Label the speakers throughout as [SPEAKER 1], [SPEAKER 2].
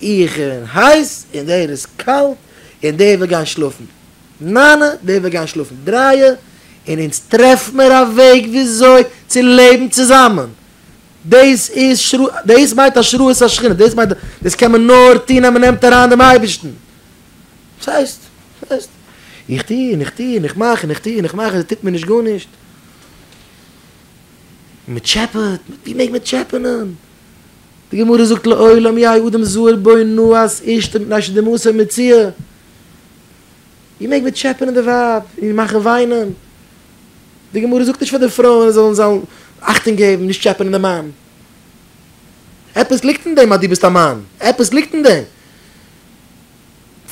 [SPEAKER 1] איך בין הייס און דער איז קאלט און דער וויל גיין שלאפן ניין דער וויל גיין שלאפן דרײַ און אונז טרעף מיר א וועג וויאזוי צו לעבן צוזאמען דאס איז שרה דאס מיינט השראת השכינה דאס מיינט דאס קען מען נאר טון אז מען נעמט אריין דעם אייבערשטן וואס הייסט וואס הייסט איך טו און איך טו און איך מאך און איך טו און איך מאך און עס טוט מיר נישט גארנישט מען טשעפעט ווי מעג מען טשעפענען די גמרא זאגט לעולם יהא אדם זהר בו נאהס אשתו מפני שזה מעשה מציאה, איר מעגט בעטשעפענען די ווייב און מאכן וויינען, די גמרא זאגט נישט פאר די פרויען זאלן זיין אכטונג געבן נישט טשעפענען די מאן, עפעס ליגט אין דעם אז דו ביסט א מאן, עפעס ליגט אין דעם,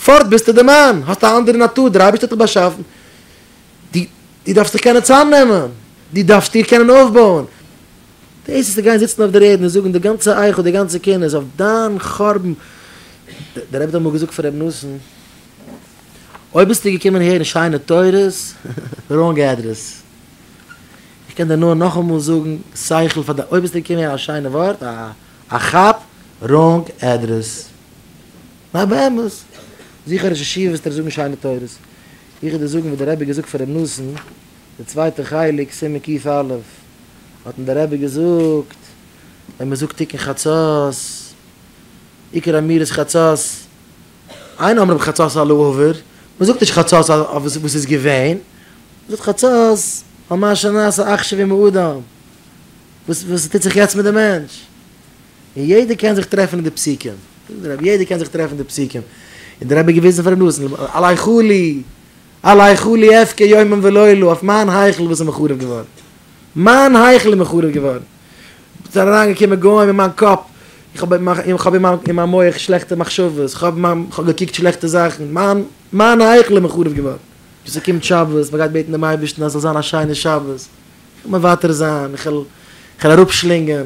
[SPEAKER 1] פארט ביסטו די מאן, האסט א אנדערע נאטור, דער אייבערשטער האט דיך באשאפן, דו דארפסט דיך קענען צוזאם נעמען, דו דארפסט דיר קענען אויפבויען. די עצות צו גיין זיצן אויף דער ערד און זאגן די גאנצע איך און די גאנצע קינות אויף דיין חורבן, דער רבי האט אמאל געזאגט פאר ר' נתן, אויב ביסטו געקומען הערן שיינע תורות, ראנג עדרעס, איך קען דיר נאר נאכאמאל זאגן, שכל פאר דיין, אויב ביסטו געקומען הערן א שיינע ווארט, א כאפ, ראנג עדרעס. ניין באמת, זוך א ראש ישיבה וועסטו דארט זאגן שיינע תורות. איך וועל דיר זאגן וואס דער רבי האט געזאגט פאר ר' נתן, די צווייטע חלק, סימן קיט א', האט אים דער רבי געזאגט, ווען מען זאגט תיקון חצות, עיקר אמירת חצות, אין אומרים חצות על העבר, מען זאגט נישט חצות אויף וואס וואס איז געווען, מען זאגט חצות על מה שנעשה עכשיו עם האדם, וואס וואס טוט זיך יעצט מיט די מענטש, און יעדער קען זיך טרעפן אין די פסוקים, זאגט דער רבי, יעדער קען זיך טרעפן אין די פסוקים, און דער רבי האט געוויזן פאר אים נאסן, עלי חלי, על היכלי אבכה יומם ולילה, אויף מיין היכל וואס איז מחורב געווארן. מיין היכל איז מחורב געווארן. ס'איז אריינגעקומען גוים אין מיין קאפ, איך האב איך האב אין מיין מח שלעכטע מחשבות, איך האב איך האב געקוקט שלעכטע זאכן, מיין מיין היכל איז מחורב געווארן. ווען ס'קומט שבת, מ'גייט בעטן דעם אייבערשטן אז ס'זאל זיין א שיינע שבת, איך וועל מוותר זיין, איך וועל איך וועל אראפשלינגען.